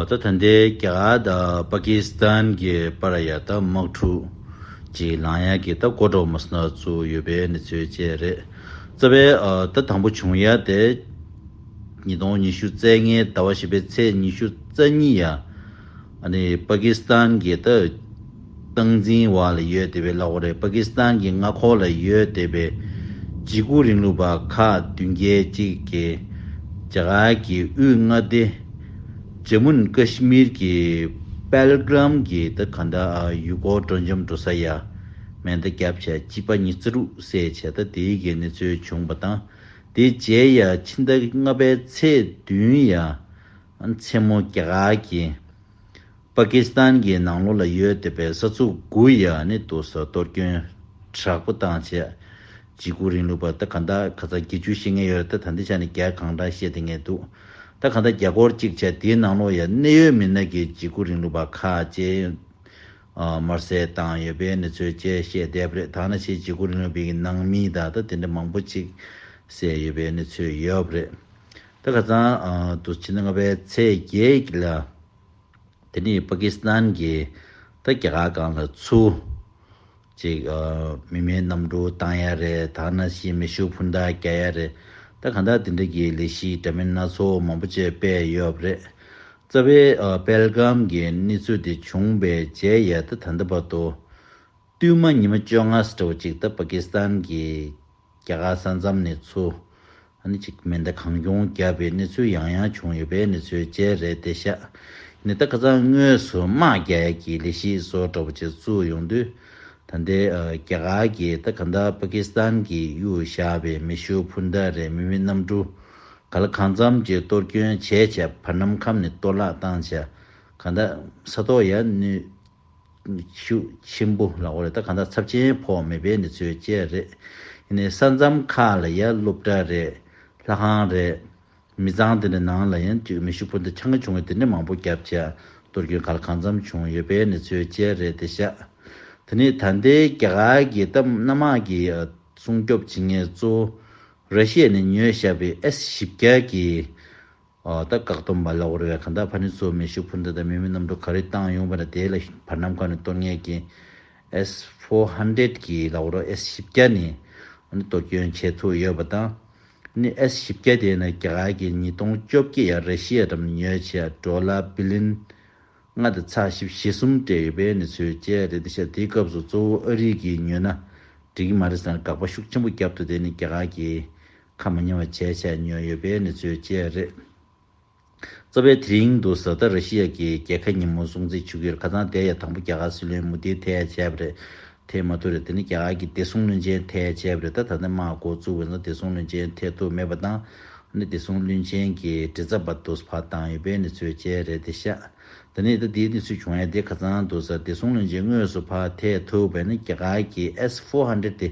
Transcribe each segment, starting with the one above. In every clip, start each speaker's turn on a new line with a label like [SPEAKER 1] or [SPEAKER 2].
[SPEAKER 1] ད་ཐ་མདའི་རྒྱ་དང་པ་ཀི་སི་ཐན་གྱི་པ་ར་ཡ་ད་དམག་འཁྲུག་ཅིག་ལངས་ཡ་གི་ད་གོ་གྲོ་མོ་སི་ན་ཚུ་ཡོད་པའི་གནས་ཚུལ་བཅས་རེད། རྩ་བའི་ད་དང་པོ་བྱུང་ཡ་དེ་ཉིས་སྟོང་ཉི་ཤུ་རྩའི་ལྔའི་ད་བ་བཞི་པའི་ཚེས་ཉི་ཤུ་རྩ་གཉིས་ཡ་ནི་པ་ཀི་སི་ཐན་གྱི་ད། སྟངས་འཛིན་བ་ལ་ཡོད་བསྡད་པའི་གླ་ཁོ་རེད་པ་ཀི་སི་ཐན་གྱི་མངའ་ཁོ་ལ་ཡོད་བསྡད་པའི་འཇིགས་སྐུལ་རིང་ལུགས་པ་ཁག་བདུན་བརྒྱད་ཅིག་གིས་རྒྱ་གར་གྱི་དབུས་མངའ་སྡེ་ཇེ་མུན་ཀི་ཤི་མིར་གྱི་པལ་གི་རམ་གྱི་ད་ག་ན་དཱ་ཡུལ་སྐོར་སྤྲོ་འཇམ་འགྲོ་ས་ཡ་མན་ད་སྐྱབས་བྱ་སྤྱི་པ་གཉིས་རྩི་རུག་བསད་བྱས་ད་དེ་གི་གནས་ཚུལ་བྱུང་བ་དང་དེ་རྗེས་ཡ་ཕྱི་ད་ལྔ་པའི་ཚེས་བདུན་ཡ་མཚན་མོ་རྒྱ་གར་གྱི་པ་ཀི་སི་ཐན་གྱི་ནང་ལོགས་ལ་ཡོད་བསྡད་པའི་ས་ཚུགས་དགུ་ཡི་ནི་དུ་ས་གཏོར་སྐྱོན་དྲག་པོ་བཏང་བྱས། འཇིགས་སྐུལ་རིང་ལུགས་པ་ད་ག་འདའ་ག་ཚ་དགེ་བཅུ་ཤེས་ངེས་ཡོད་རེད་ད་འདི་ཆ་ནས་རྒྱ་གང་འདྲ་བཤད་དེ་ངེས་འདུག་ད་ག་འདའ་རྒྱ་སྒོར་གཅིག་བྱས་དེའི་ནང་ལོགས་ཡི་གནད་ཡོད་མི་སྣ་གི་འཇིགས་སྐུལ་རིང་ལུགས་པ་ཁ་ལྕེ་དམར་སེར་བཏང་ཡོད་པའི་གནས་ཚུལ་བཅས་བཤད་བསྡད་པ་རེད་ད་ནི་ཕྱིའི་འཇིགས་སྐུལ་རིང་ལུགས་པའི་ནང་མི་དག་ད་དེ་འདྲ་མང་པོ་གཅིག་བསད་ཡོད་པའི་གནས་ཚུལ་ཡོད་རེད་ད་ག་ཚང་དུ་ཕྱི་ཟླ་ལྔ་པའི་ཚེས་བརྒྱད་ལ་དེ་ནི་པ་ཀི་སི་ཐན་གྱི་ད་རྒྱ་གར་སྒང་ལ་ཚུ་ཅིག་མི་མེད་གནམ་གྲུ་བཏང་ཡ་རེད་ད་གནའ་ཤིས་མེ་ཤུགས་འཕུར་མདའ་རྒྱག་ཡ་རེད་ད་ག་འདྲ་དེ་འདྲ་གྱི་ལས་གཞི་འདྲ་མིན་སྣ་ཚོགས་མང་པོ་བཅས་སྤེལ་ཡོད་པ་རེད། རྩ་བའི་པེལ་གྷམ་གྱི་གནས་ཚུལ་དེ་བྱུང་པའི་རྗེས་ཡལ་ད་ད་ལྟ་བར་དུ། བསྟུད་མ་ཉི་མ་བཅོ་ལྔ་སི་ཏྲ་བ་ཅིག་ད་པ་ཀི་སི་ཐན་གྱི་རྒྱ་གར་ས་མཚམས་ནས་ཚུར་ཨ་ནི་ཅིག་མེ་མདའ་གང་བྱུང་བརྒྱབ་པའི་གནས་ཚུལ་ཡང་ཡང་བྱུང་ཡོད་པའི་གནས་ཚུལ་བཅས་རེད་དེ་ཤ་ནི་ད་ག་ཚང་དངོས་སུ་དམག་རྒྱལ་གྱི་ལས་གཞི་བཟོ་འདྲ་བོ་བྱེད་བཅུག་ཡོང་དུས། ད་ལྟའི་རྒྱ་གར་གྱི་ད་ག་ཟླ་པ་ཀི་སི་ཐན་གྱི་གཡུལ་བཞག་པའི་མེ་ཤུགས་འཕུར་མདའ་རེ་མི་མི་གནམ་གྲུ་ག་ལ་གང་འཚམ་གྱིས་གཏོར་སྐྱོན་བྱས་བྱས་བར་ནམ་ཁམས་ནས་གཏོར་བརླག་བཏང་བྱས་ག་ད་ས་ཐོག་ཡར་ནུད། ཤུགས་ཆེན་པོ་ལ་འོ་རེད་ད་གང་ལྟར་ཚབས་ཆེན་ཕོག་མེད་པའི་གནས་ཚུལ་བཅས་རེད། ཡིན་ནའི་ས་མཚམས་ཁག་ལ་ཡར་སློབ་གྲྭ་རེད། ལྷ་ཁང་རེད། མི་ཚང་དེ་འདྲའི་ནང་ལ་ཡང་མི་ཤུགས་ཕུ་འདེད་ཆང་ཁ་བྱུང་བའི་དེ་འདྲའི་མང་པོ་རྒྱབ་ཆ་གཏོར་སྐྱོན་ག་ལ་གང་འཚམས་བྱུང་ཡོད་པའི་གནས་ཚུལ་བཅས་རེད་དེ་ཤ་དེ་ནི་ད་ལྟའི་རྒྱ་གར་གྱི་སྟབས་སྣ་མང་གི་སྲུང་སྐྱོབ་བྱེད་མཁན་གཙོ་བོ་ར་ཤི་ཡ་ནས་ཉོས་བཞག་པའི་ཨེ་སི་བཞི་བརྒྱ་གྱི་ད་བཀག་སྡོམ་མ་ལོག་རེད་བས་གང་དག་ཕ་ནི་གཙོ་བོ་མེ་ཤུགས་འཕུར་མདའ་དང་མེ་མི་གནམ་གྲུ་ག་རེ་བཏང་ཡོང་བ་ན་དེའི་ལ་བར་ནམ་གང་ནས་གཏོར་ངེས་ཀྱི། S four hundred གྱི་ལ་བོར S བཞི་བརྒྱ་ནི་གཏོར་སྐྱོན་བྱས་ཐུག་ཡོད་པ་དང། ནི S བཞི་བརྒྱ་དེ་ནི་རྒྱ་གར་གྱི་ཉིས་སྟོང་བཅོ་བརྒྱད་ཡར་རེ་ཤི་ཡ་དྲ་མི་ཉོས་བྱས་འགྲོ་ལ་བི་ལིན། ལྔ་དང་ཚགས་ཞིབ་བཞི་གསུམ་སྤྲད་ཡོད་པའི་ནི་ཚོད་བཅས་རེད་འདི་ཤ་དེའི་སྐབས་སུ་གཙོ་བོ་ཨ་རིག་གིས་ཉོས་ན་འགྲིག་གི་མ་རེད་ཟེར་ན་དགག་པ་ཤུགས་ཆེན་པོ་རྒྱབ་འདུག་དེ་ནི་རྒྱ་གར་གྱི་ཁ་མི་ཉོ་བ་བཅས་བྱས་མྱོང་ཡོད་པའི་གནས་ཚུལ་བཅས་རེད། གཙོ་བོའི་དེ་རིང་དུ་བཟའ་ཟླ་ར་ཤི་ཡ་གིས་རྒྱལ་ཁ་ཉིན་མོ་སྲུང་བརྩི་ཞུ་རྒྱུར་ཁ་ཚང་དེ་ཡང་དང་པོ་རྒྱ་གར་སྲིད་བློན་མུ་དྷིའི་ཐད་བྱས་པ་རེད། དེས་མ་ཐུག་རེད་དེ་ནི་རྒྱ་གར་གྱི་བདེ་སྲུང་བློན་ཆེན་ཐད་བྱས་པ་རེད་ད་ད་ནི་མར་འགོ་བཙུགས་བས་ན་བདེ་སྲུང་བློན་ཆེན་ཐད་ཐུག་མེད་པ་དང། ནི་བདེ་སྲུང་བློན་ཆེན་གྱི་དྲི་རྩ་བར་དུ་བར་བཏང་ཡོད་པའི་གནས་ཚུལ་བཅས་རེད་དེ་ཤ་ད་ནི་ད་དེའི་གནས་ཚུལ་བྱུང་ཡ་དེ་ཁ་ཚང་དུ་བཟའ་བདེ་སྲུང་བློན་ཆེན་དངོས་སུ་བར་ཐད་ཐུག་བས་ན་རྒྱ་གར་གྱི S four hundred དེ་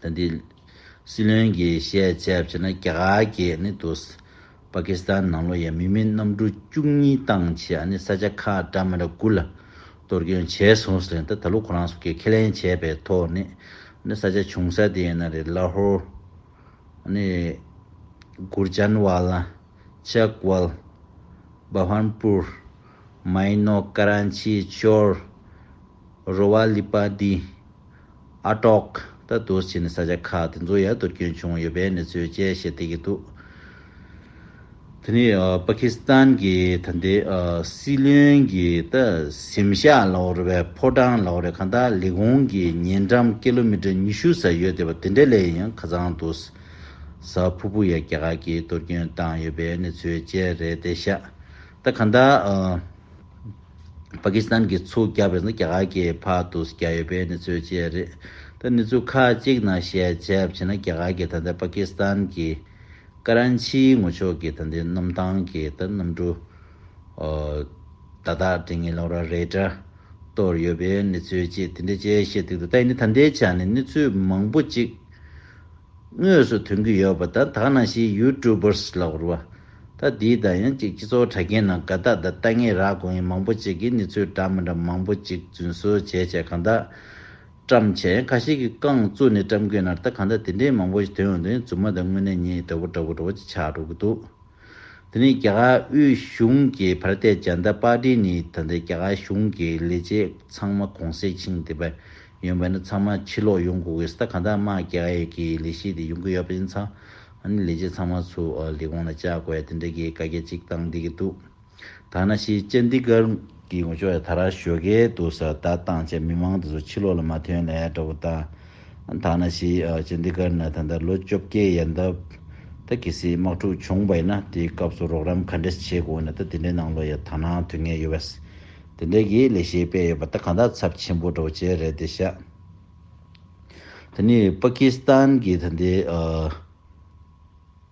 [SPEAKER 1] ད་འདི། སྲིད་བློན་གྱིས་བཤད་ཚད་བྱས་ན་རྒྱ་གར་གྱི་ནི་དུ། པ་ཀི་སི་ཐན་ནང་ལོ་ཡ་མི་མི་གནམ་གྲུ་བཅུ་གཉིས་བཏང་ཆེད་ཨ་ནི་ས་ཆ་ཁ་བྲ་མི་ར་དགུ་ལ་གཏོར་སྐྱོན་བྱས་སོང་ཟེར་ད་ད་ལོ་ཁོ་རང་སུ་ཁས་ཁས་ལེན་བྱས་པའི་ཐོག་ནས་ཨ་ནི་ས་ཆ་བྱུང་ས་དེ་ཡིན་ན་རེད་ལ་ཧོར། ཨ་ནི། གུར་ཇཱན་ཝ་ལ། ཅག་ཝལ། བྷ་བྷན་པུར། མ་ཡིན་ནོ་ཀ་རན་ཆི་ཅོར། རོ་བ་ལིས་པ་འདིས་ཨ་ཀྲོག་ལྟར་དུར་བྱས་ནས་ས་ཆ་ཁག་དེ་ཚོ་ཡར་དུར་སྐྱོན་བྱུང་ཡོད་པའི་གནས་ཚུལ་བཅས་བཤད་བསྡད་ཀྱི་འདུག་དེ་ནི་པ་ཁི་སི་ཐན་གྱི་ད་ལྟའི་སྲིད་བློན་གྱི་ད་གཟིམ་ཤག་ལོར་བའི་ཕོ་བྲང་ལོར་བའི་གང་ལྟར་ལི་ཧུང་གི་ཉེ་འགྲམ་ཀེ་ལོ་མི་ཀྲི་ཉི་ཤུ་ཟེར་ཡོད་བསྡད་པ་དེ་འདྲ་ལས་ཡང་ཁ་ཚང་འདུག་ས་ཕུ་ཕུ་ཡ་རྒྱ་གར་གྱིས་དུར་སྐྱོན་བཏང་ཡོད་པའི་གནས་ཚུལ་བཅས་རེད་བསྡད་ཤག་ད་གང་ལྟར་པ་ཀི་སི་ཐན་གྱི་ཚུགས་བརྒྱབ་པའི་རྒྱ་གར་གྱི་བར་དུ་བརྒྱབ་ཡོད་པའི་གནས་ཚུལ་བཅས་རེད། ད་གནས་ཚུལ་ཁག་ཅིག་ནང་བཤད་རྒྱབ་བྱས་ན་རྒྱ་གར་གྱི་ད་ལྟའི་པ་ཀི་སི་ཐན་གྱི་ཀ་རན་ཆིའི་ངོ་ཕྱོགས་ཀྱི་ད་ལྟའི་གནམ་ཐང་གི་ད་གནམ་གྲུ་དག་དག་དྲི་ངན་ལོག་ར་རེད་འདྲ་གཏོར་ཡོད་པའི་གནས་ཚུལ་བཅས་དེ་འདྲ་བཅས་བཤད་སྟེགས་འདུག་ད་ཡིན་ན་ད་ལྟའི་ཆ་ནས་གནས་ཚུལ་མང་པོ་ཅིག་དངོས་སུ་ཐོན་གྱི་ཡོད་པ་དང་དག་སྣང་ཞིག་ཡུལ་ཀྲུའུ་པརས་ལག་བསྒུར་བ། ད་དེའི་དང་ཡང་གཅིག་སྤྱི་ཚོགས་དྲ་རྒྱའི་ནང་དགའ་རྟགས་དང་ལྟ་ངན་རག་གོ་ཡིན་མང་པོ་ཅིག་གིས་ནི་ཚོས་འདྲ་མི་འདྲ་མང་པོ་ཅིག་རྫུན་བཟོ་བྱས་བྱས་གང་དག་བཀྲམ་བྱས་ཁ་ཤས་ཀྱིས་རྐང་བཙུགས་ནས་བཀྲམ་གྱིན་ནར་ད་གང་དག་དེ་འདྲའི་མང་པོ་ཞིག་དོན་འོག་ཏུ་ཡང་རྫུན་མ་དང་དངོས་གནས་ཉིད་ཡིན་འདྲ་བོ་འདྲ་བོ་འདྲ་བོ་ཅིག་ཆགས་འགྲོ་གི་འདུག། དེ་ནི་རྒྱ་གར་དབུས་གཞུང་གི་བར་བརྟས་བྱ་མདའ་པར་བྲིས་ནི་ད་ལྟའི་རྒྱ་གར་གཞུང་གི་ལས་བྱེད་ཚང་མ་གོང་གསལ་ཆིངས་བསྡེབས་པ་ཡོན་པ་ནི་ཚང་མ་ཕྱིར་ལོག་ཡོང་དགོས་གི་ཟ་གང་དག་དམག་རྒྱ་ཡས་ཀྱི་ལས་བྱེད་དེ་ཡོང་གི་ཡོད་པ་ཡིན་ཚ་ཨ་ནི་ལས་བྱེད་ཚང་མ་ཚུ་ལི་གོང་ལ་བཅར་དགོས་ཡ་དེ་འདྲ་གི་བཀའ་རྒྱ་གཅིག་བཏང་བསྡད་ཀྱི་འདུག། ཐ་ན་ཤེས་བྱ་འདི་གར་གི་ངོ་ཅོག་ཡང་ད་རག་ཞོལ་ཁའི་དུ་ས་ད་བཏང་བྱས་མི་མང་དེ་ཚོ་ཕྱི་ལོག་ལ་མ་ཐོན་ལེ་འདྲ་བོ་བཏང། ཐ་ན་ཤེས་བྱ་འདི་གར་ན་ད་ལྟ་ལོ་བཅོ་བརྒྱད་ཡལ་འདབས་ད་གེ་སའི་དམག་འཁྲུག་བྱུང་བ་ཡིན་ན་དེའི་སྐབས་སུ་རོགས་རམ་ག་འདྲས་བྱས་དགོས་ན་ད་དེ་འདྲའི་ནང་ལོ་ཡང་ད་ནང་དུས་ངན་ཡོད་བས། དེ་འདྲས་ཀྱི་ལས་བྱེད་པས་ཡོད་པ་ད་གང་དག་ཚབས་ཆེན་པོ་འདྲ་བོ་བྱས་རེད་དེ་ཤག་ད་ནི་པ་ཀི་སི་ཐན་གྱི་ད་ལྟའི།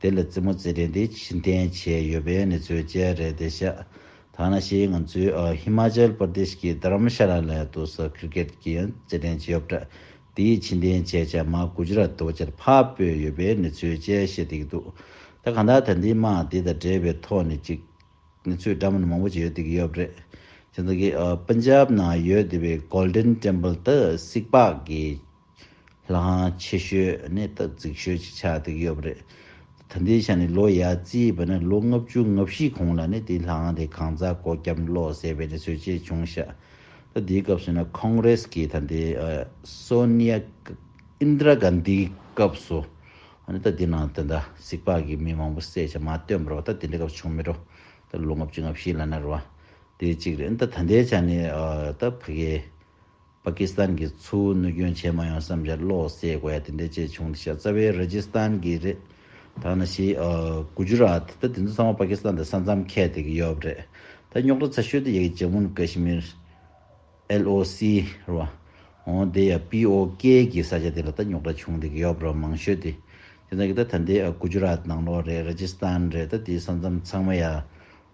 [SPEAKER 1] དེ་ལ་རྩེད་མོ་རྩེ་གྲས་འདི་ཕྱིར་འཐེན་བྱས་ཡོད་པའི་གནས་ཚུལ་བཅས་རེད་དེ་བཤད་ཐ་ན་ཕྱིའི་ང་ཚོའི་ཧི་མ་ཅལ་པར་དེ་ཤི་ཀི་དྷར་རམ་ཤ་ལ་ལའི་ཏུ་སོགས་ཁིར་ཀེད་ཀྱི་ཡང་རྩེད་འགྲན་གྱི་ཡོབ་གྲ་དེའི་ཕྱིར་འཐེན་བྱས་བྱས་མ་གུ་ཇུ་ར་ཏུ་བ་ཅར་ཕར་སྤོས་ཡོད་པའི་གནས་ཚུལ་བཅས་བཤད་དེ་གི་འདུག་ད་ག་འདྲ་ད་འདི་མ་དེ་དང་འབྲེལ་བའི་ཐོག་ནས་ཅིག་གནས་ཚུལ་འདྲ་མིན་མང་པོ་ཅིག་ཡོད་དེ་གི་ཡོབ་རེད་ཅེ་འདི་གི་པུན་ཇབ་ནང་ཡོད་དེ་བའི Golden Temple དུ་སིག་པག་གི། ལྷང་ཆེ་ཤོས་ནི་སྟབས་རྫིག་ཤོས་ཀྱི་ཆ་དེ་ཡོད་པ་རེད། ད་ལྟའི་ཆ་ནས་ལོ་ཡ་རྩིས་བས་ན་ལོ་ལྔ་བཅུ་ལྔ་བཞི་གོང་ལ་ནི་དེའི་ལྷང་དེ་གང་ཛག་གོ་སྐྱབས་བློ་ཟད་པའི་ནི་ཟོལ་ཆེ་ཆུང་ཤ་སྟག་དེའི་སྐབས་སུ་ན་ཁོང་རེས་ཀྱི་ད་ལྟའི Sonia Indira Gandhi སྐབས་སུ་ནི་ད་དེའི་ནང་དོན་ད་གཟིག་པགས་ཀྱི་མི་མང་པོ་བསད་ཆ་མ་སྟོན་པར་བ་ད་དེ་འདྲ་སྐབས་བྱུང་མི་རོ་ད་ལོ་ལྔ་བཅུ་ང་བཞི་ལ་ནར་བ་དེ་གཅིག་རེད་ད་ད་ལྟའི་ཆ་ནས་ད་ཕ་གི་པ་ཀི་སི་ཐན་གྱིས་ཚུར་གནོད་སྐྱོན་བྱས་མ་ཡོང་བསམ་བཞག་བློ་གསལ་དགོས་ཡ་དེ་འདྲའི་ཅེས་བྱུང་འདི་ཤ་ཚ་བའི་ར་ཇི་སི་ཐན་གྱི་རེད། ཐ་ན་ཤི་གུ་ཇུ་ར་ཏི་ད་དེ་ཚོ་ཚང་མ་པ་ཀི་སི་ཐན་དང་ས་མཚམས་ཁད་དེ་གི་ཡོབ་རེད་ད་རྙོག་དྲ་ཚ་ཤོས་དེ་ཡ་གི་ཇམ་མུན་ཀ་ཤི་མིར། LOC། ར་བ། འོང་དེ་ཡ་པི་ཨོ་ཀེ་གི་ས་ཆ་དེ་ལ་ད་རྙོག་དྲ་བྱུང་དེ་གི་ཡོབ་ར་མང་ཤོས་དེ་དེ་ཚང་གི་ད་ད་འདི་གུ་ཇུ་ར་ཏི་ནང་ལོག་རེད་ར་ཇི་སི་ཐན་རེད་ད་དེའི་ས་མཚམས་ཚང་མ་ཡ་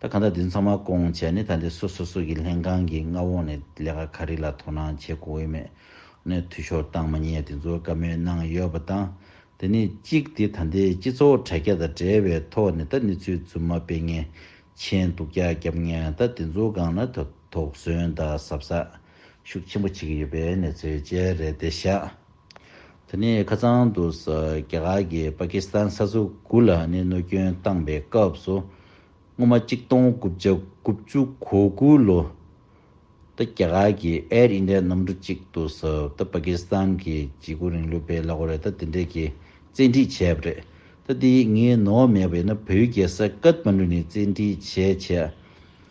[SPEAKER 1] ད་གང་ལྟར་དེ་ཚང་མ་སྐོང་བྱས་ནས་ད་ལྟའི་སོ་སོ་སོ་གི་ལྷན་ཁང་གི་མངའ་འོག་ནས་ལས་ཀ་ག་རེ་ལ་དོ་སྣང་བྱེད་དགོས་འོས་མེད་ནས་འཐུས་ཤོར་བཏང་མ་ཉེས་དེ་ཚོ་བཀའ་མོལ་གནང་ཡོད་པ་དང། དེ་ནས་གཅིག་དེ་ད་ལྟའི་སྤྱི་ཚོགས་དྲ་རྒྱ་དང་འབྲེལ་བའི་ཐོག་ནས་ད་གནས་ཚུལ་རྫུན་མ་སྤེལ་མཁན་མཆན་སྡུག་རྒྱག་རྒྱབ་མཁན་ད་དེ་ཚོ་སྒང་ན་ད་དོགས་ཟོན་དང་ཟབ་ཟབ་ཤུགས་ཆེན་པོ་བྱེད་ཀྱི་ཡོད་པའི་གནས་ཚུལ་བཅས་རེད་དེ་ཤག་ད་ནི་ཁ་ཚང་དུ་ས་རྒྱ་གར་གྱི་པ་ཀི་སི་ཐན་ས་སོ་དགུ་ལ་གནས་གནོད་སྐྱོན་བཏང་པའི་སྐབས་སུ། སྔོན་མ་གཅིག་སྟོང་དགུ་བརྒྱ་དགུ་བཅུ་གོ་དགུ་ལོ་ད་རྒྱ་གར་གྱི Air India གནམ་གྲུ་གཅིག་ཏུ་ས་ད་པ་ཀི་སི་ཐན་གྱི་བྱེད་སྒོ་རིང་ལུགས་པས་ལ་གོ་རེ་ད་དེ་འདྲས་ཀྱི་བཙན་ཁྲིད་བྱས་པ་རེད། ད་དེ་ངས་ནོར་བ་མེད་པ་ཡིན་ན་བོད་རྒྱལ་ས་ཀད་མ་ནུ་ནས་བཙན་ཁྲིད་བྱས་བྱས།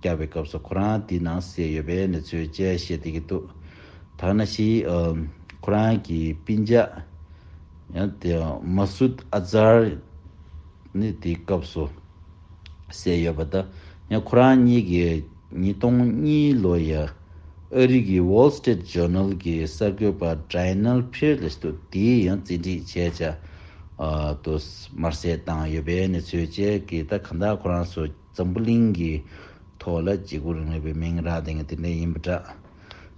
[SPEAKER 1] བསྐྱར་བའི་སྐབས་སུ་ཁོ་རང་དེའི་ནང་བསྲེས་ཡོད་པའི་གནས་ཚུལ་བཅས་བཤད་བསྡད་ཀྱི་འདུག་ཐ་ན་ཤི་ཁོ་རང་གི་སྤུན་མཆེད་མ་སུད་ཨ་ཛར་ནི་དེའི་སྐབས་སུ་བསྲེས་ཡོད་པ་དང་ཁོ་རང་གཉིས་ཀྱིས་ཉིས་སྟོང་གཉིས་ལོ་ཡི་ཨ་རི་གི Wall Street Journal གྱི་གསར་འགོད་པ Drinal Peerless དུ་དེའི་ཡང་བཙན་ཁྲིད་བྱས་བྱ་དུ་དམར་བསད་བཏང་ཡོད་པའི་གནས་ཚུལ་བཅས་ཀྱིས་ད་ག་འདའ་ཁོ་རང་སུ། འཛམ་བུ་གླིང་གི་ཐོག་ལ་བརྗེ་སྒུར་ངེས་པའི་མིང་རགས་དེ་ནི་དེ་འདྲ་ཡིན་པ་འདྲ།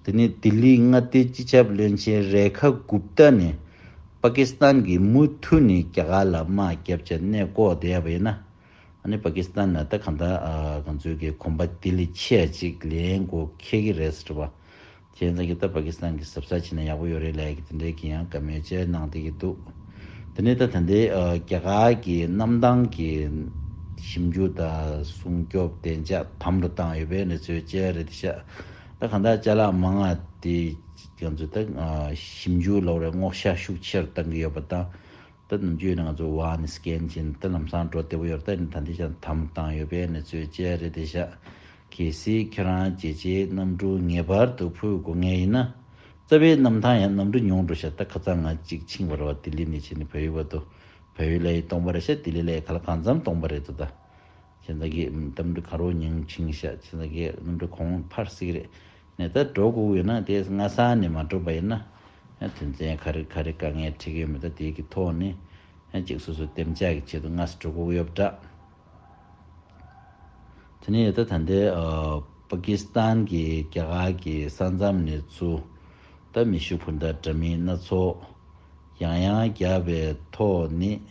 [SPEAKER 1] དེ་ནི་ལྡི་ལིའི་མངའ་སྡེའི་སྤྱི་ཁྱབ་བློན་ཆེན་རེ་ཁ་གུབ་རྟ་ནི་པ་ཀི་སི་ཐན་གྱིས་མུ་མཐུད་ནས་རྒྱ་གར་ལ་དམག་བརྒྱབ་ཆེད་གནས་བསྐོར་བསྡད་པ་ཡིན། ཨ་ནི་པ་ཀི་སི་ཐན་ནས་ད་གང་ལྟར་གངས་མཛོད་ཀྱི་གོམ་པ་ལྡི་ལི་ཆེད་ཅིག་ལེན་དགོས་འཁེལ་གྱི་རེད་ཟེར་བ། ཁྱེད་རང་ཚང་གི་ལྟ་པ་ཀི་སི་ཐན་གི་ཟབ་ས་ཕྱིན་ན་ཡག་པོ་ཡོད་རེད་ལས་ཀི་དེ་འདྲའི་ཀི་ཡང་ཀ་མོའི་ཅལ་གནང་དེ་ཀི་འདུག་དེ་ནས་ད་ད་ནྡེ་རྒྱ་གར་གི་གནམ་ཐང་གི་ཞིབ་འཇུག་དང་སྲུང་སྐྱོབ་བདེ་འཇགས་དམ་དུ་བཏང་ཡོད་པའི་ནེ་ཚོའི་ཅལ་རེད་དེ་ཤག་ད་གང་དག་ཅལ་ལག་མ་ང་དེ་ཀི་ང་ཚོ་ད་ཞིབ་འཇུག་ལ་བར་བརྔོག་ཤ་ཤུགས་ཆེར་བཏང་གི་ཡོད་པ་དང། ད་ནུབ་རྒྱུད་ནང་ང་ཚོ་བ་ནི་སྐྱེན་གྱིན་ད་ལམ་སང་འགྲོ་བདེ་བོ་ཡོད་རེད་ད་ནི་ད་འདི་ཞག་དམ་བཏང་ཡོད་པའི་གནས་ཚུལ་བཅས་རེད་དེ་ཤག་གི་སི་ཁྱེད་རང་རྒྱལ་སྤྱིའི་གནམ་གྲུ་ངེས་པར་དུ་ཕུད་དགོ་ངེས་ཡིན་ན། རྩ་བའི་གནམ་ཐང་ཡང་གནམ་གྲུ་ཉུང་འགྲོ་ཤག་ད་ཁ་ཚ་ང་གཅིག་ཆིང་བ་ར་བ་དི་ལི་ནས་ཕྱིན་ནི་བལ་ཡུལ་བ་དུ་བལ་ཡུལ་ལ་ཡི་སྟོང་པ་རེད་ཤག་དི་ལི་ལ་ཡི་ག་ལ་གང་འཚམ་སྟོང་པ་རེད་དོ་ད་ཁྱེད་རང་གིས་གནམ་གྲུ་གང་རུང་ཉིང་ཆིང་ཤག་ཁྱེད་རང་གིས་གནམ་གྲུ་གོང་འཕར་སིག་རེད། ནས་ད་འགྲོ་དགོས་ཡོད་ན་དེ་སྔ་ས་ནས་མ་འགྲོ་པ་ཡིན་ན། དོན་ཚན་ག་རེ་ག་རེ་དཀའ་ངལ་འཕྲད་ཀྱི་མེད་ད་དེ་གི་ཐོག་ནས་ཅིག་སོ་སོའི་གཏན་འཇགས་ཀྱི་ཆེད་དུ་སྔ་ས་འགྲོ་དགོས་ཡོད་པ་འདྲ། དེ་ནས་ད་ད་འདི་པ་ཀི་སི་ཐན་གྱི་རྒྱ་གར་གྱི་ས་མཚམས་ནས་ཚུ་ད་མི་ཤུགས་འཕུར་མདའ་འདྲ་མིན་སྣ་ཚོགས་ཡང་ཡང་བརྒྱབ་པའི་ཐོག་ནས་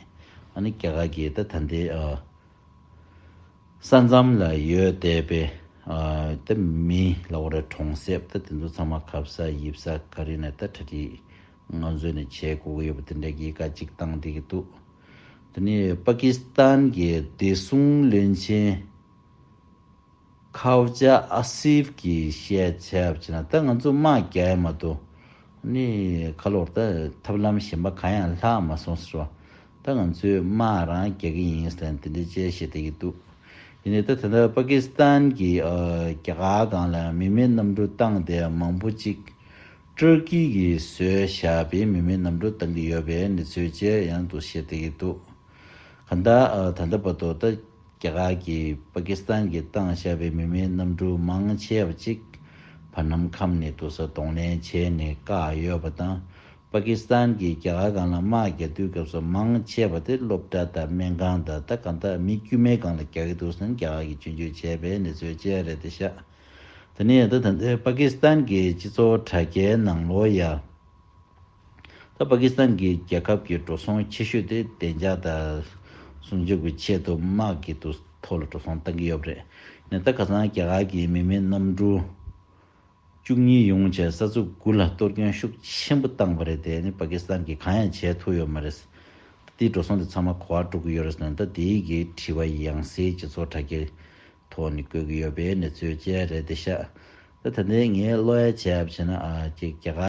[SPEAKER 1] ཨ་ནི་རྒྱ་གར་གྱི་ད་ད་འདི། ས་མཚམས་ལ་ཡོད་བསྡད་པའི་དེ་མི་ལ་བོ་ར་གྲོང་གསེབ་དེ་དེ་ཚོ་ཚང་མ་གབ་ས་ཡིབ་ས་ག་རི་ནས་ད་གྲ་སྒྲིག་ང་ཚོས་ནས་བྱེད་དགོས་ཀྱི་ཡོད་པ་དེ་འདྲ་གི་ཀ་གཅིག་བཏང་བསྡད་ཀྱི་འདུག་དེ་ནས་པ་ཀི་སི་ཐན་གྱི་བདེ་སྲུང་བློན་ཆེན་ཁའོ་ཇ་ཨ་སིབ་ཀྱིས་བཤད་ཚད་བྱས་ན་ད་ང་ཚོ་དམག་རྒྱག་ཡ་མ་གཏོགས་ནས་ཁ་ལོར་ད་ཐབས་ལམ་གཞན་པ་གང་ཡང་ལྷག་མ་སོང་ཟེར་བ་ད་ང་ཚོས་དམག་རང་རྒྱག་གི་ཡིན་ཟེར་ནས་དེ་འདྲའི་དཔྱད་བཤད་བསྟན་གྱི་འདུག་ཡིན་ནའི་ད་ད་ལྟ་པ་ཀི་སི་ཐན་གྱི་རྒྱ་གར་སྒང་ལ་མི་མེད་གནམ་གྲུ་བཏང་སྟེ་མང་པོ་ཅིག་ཏུར་ཀི་གིས་བཟོས་བཞག་པའི་མི་མེད་གནམ་གྲུ་བཏང་གི་ཡོད་པའི་གནས་ཚུལ་བཅས་ཡང་དུ་བཤད་བསྡད་ཀྱི་འདུག་གང་ལྟར་ད་ལྟ་བར་དུ་ད་རྒྱ་གར་གྱིས་པ་ཀི་སི་ཐན་གྱིས་བཏང་བཞག་པའི་མི་མེད་གནམ་གྲུ་མང་ཆེ་བ་ཅིག་བར་ནམ་ཁམས་ནས་དུར་ས་གདོང་ལེན་བྱས་ནས་བཀག་ཡོད་པ་དང། པ་ཀི་སི་ཐན་གྱིས་རྒྱ་གར་སྒང་ལ་དམག་རྒྱག་དུས་སྐབས་སུ་མང་ཆེ་བ་དེ་སློབ་གྲྭ་དང་སྨན་ཁང་དང་ད་གང་ལྟར་མི་དཀྱུས་མའི་སྒང་ལ་རྒྱག་གི་འདུག་ཟེར་ན་རྒྱ་གར་གྱིས་ཇུས་འཇུག་བྱས་པའི་གནས་ཚུལ་ཅི་རེད་དེ་ཤ་ད་ནི་ཡང་ད་ད་ལྟའི་པ་ཀི་སི་ཐན་གྱི་སྤྱི་ཚོགས་དྲ་རྒྱའི་ནང་ལོ་ཡ་ད་པ་ཀི་སི་ཐན་གྱི་རྒྱལ་ཁབ་ཀྱི་འགྲོ་སོང་ཆེ་ཤོས་དེ་བདེ་འཇགས་དང་སྲུང་སྐྱོབ་ཀྱི་ཆེད་དུ་དམག་གི་དུ་ཐོག་ལ་འགྲོ་སོང་བཏང་གི་ཡོད་རེད་ནས་ད་ཁ་སང་རྒྱ་གར་གྱི་མི་མེད་གནམ་གྲུ། བཅུ་གཉིས་ཡོང་བྱས་ས་ཚུགས་དགུ་ལ་གཏོར་སྐྱོན་ཤུགས་ཆེན་པོ་བཏང་བ་རེད་དེ་ནི་པ་ཀི་སི་ཐན་གྱིས་གང་ཡང་བྱས་ཐུབ་ཡོད་མ་རེད། ད་དེའི་འགྲོ་སོང་དེ་ཚང་མ་གོ་བ་འགྲོ་གི་ཡོད་རེད་ཟེར་ན་ད་དེའི་གི་དྲི་བ་ཡང་སའི་སྤྱི་ཚོགས་དྲ་རྒྱའི་ཐོག་ནས་བཀོད་གི་ཡོད་པའི་གནས་ཚུལ་བཅས་རེད་དེ་ཤ་ད་ད་ལྟའི་ངའི་བློ་ཡ་བྱས་བྱས་ན་ཨ་རྒྱ་གར